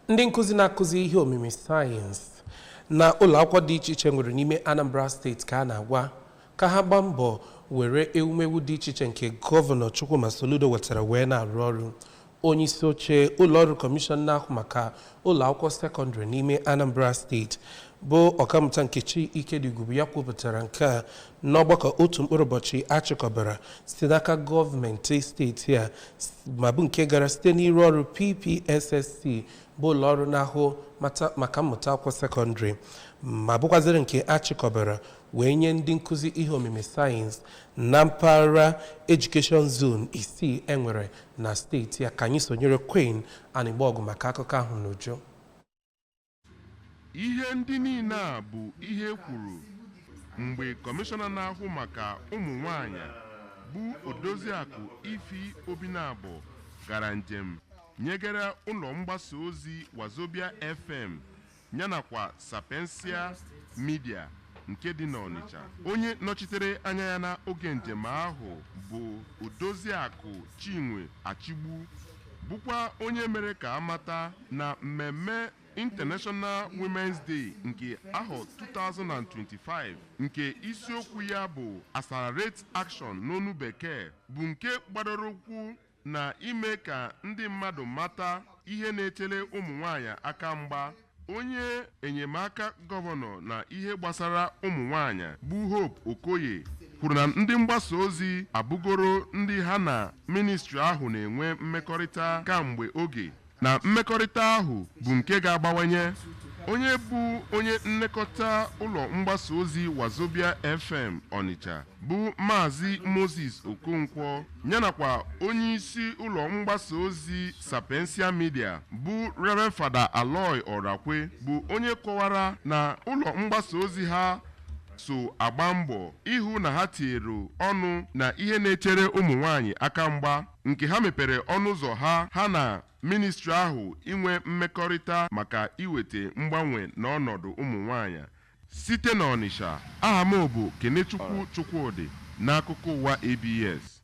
ndị nkụzi na-akụzi ihe omimi sayensị na ụlọ akwụkwọ dị iche iche nwere n'ime Anambra steeti ka a na-agwa ka ha gbaa mbọ were ewumewu dị iche iche nke gọvanọ Chukwuma Soludo wetara wee na-arụ ọrụ onye isi oche ụlọ ọrụ kọmishọn na-ahụ maka ụlọ akwụkwọ sekọndịrị n'ime Anambra steeti bụ ọkammụta Nkechi Ikediugwu bụ ya kwupụtara nke a n'ọgbakọ otu mkpụrụ ụbọchị a chịkọbara site n'aka gọọmenti steeti a ma bụ nke gara site n'iru ọrụ PPSSC bụ ụlọ ọrụ na-ahụ maka mmụta akwụkwọ sekọndịrị ma bụkwaziri nke a chịkọbara wee nye ndị nkụzi ihe omimi sayensị na mpaghara edukeshọn zon isii e nwere na steeti a ka anyị sonyere Queen Anịgbọgụ maka akụkọ ahụ n'uju Ihe ndị niile a bụ ihe e kwuru mgbe kọmishọna na-ahụ maka ụmụ nwaanyị bụ Odoziakụ Ify Obinabọ gara njem nyegara ụlọ mgbasa ozi Wazobia FM yanakwa Sapientia Media nke dị n'Ọnịcha. Onye nọchitere anya ya na oge njem ahụ bụ Odoziakụ Chinwe Achigbu bụkwa onye mere ka a mata na mmemme International Women's Day nke ahọ 2025 nke isiokwu ya bụ Accelerate Action n'onu bekee bụ nke gbadoro ụkwụ na ime ka ndị mmadụ mata ihe na-echere ụmụnwaanyị aka mgba. Onye enyemaka gọvanọ na ihe gbasara ụmụnwaanyị bụ Hope Okoye kwuru na ndị mgbasa ozi abụgoro ndị ha na ministri ahụ na-enwe mmekọrịta kamgbe oge. na mmekọrịta ahụ bụ nke ga-agbawanye. Onye bụ onye nlekọta ụlọ mgbasa ozi Wazobia FM Ọnịcha bụ Maazị Moses Okonkwo yanakwa onyeisi ụlọ mgbasa ozi Sapientia Media bụ Rev Fada Aloy Orakwe bụ onye kọwara na ụlọ mgbasa ozi ha so agba mbọ ịhụ na ha tinyere ọnụ na ihe na-echere ụmụ nwaanyị aka mgba nke ha mepere ọnụ ụzọ ha ha na ministri ahụ inwe mmekọrịta maka iweta mgbanwe n'ọnọdụ ụmụ nwaanyị. Site n'Ọnịsha, aha m bụ Kenechukwu Chukwudị n'akụkọ ụwa ABS.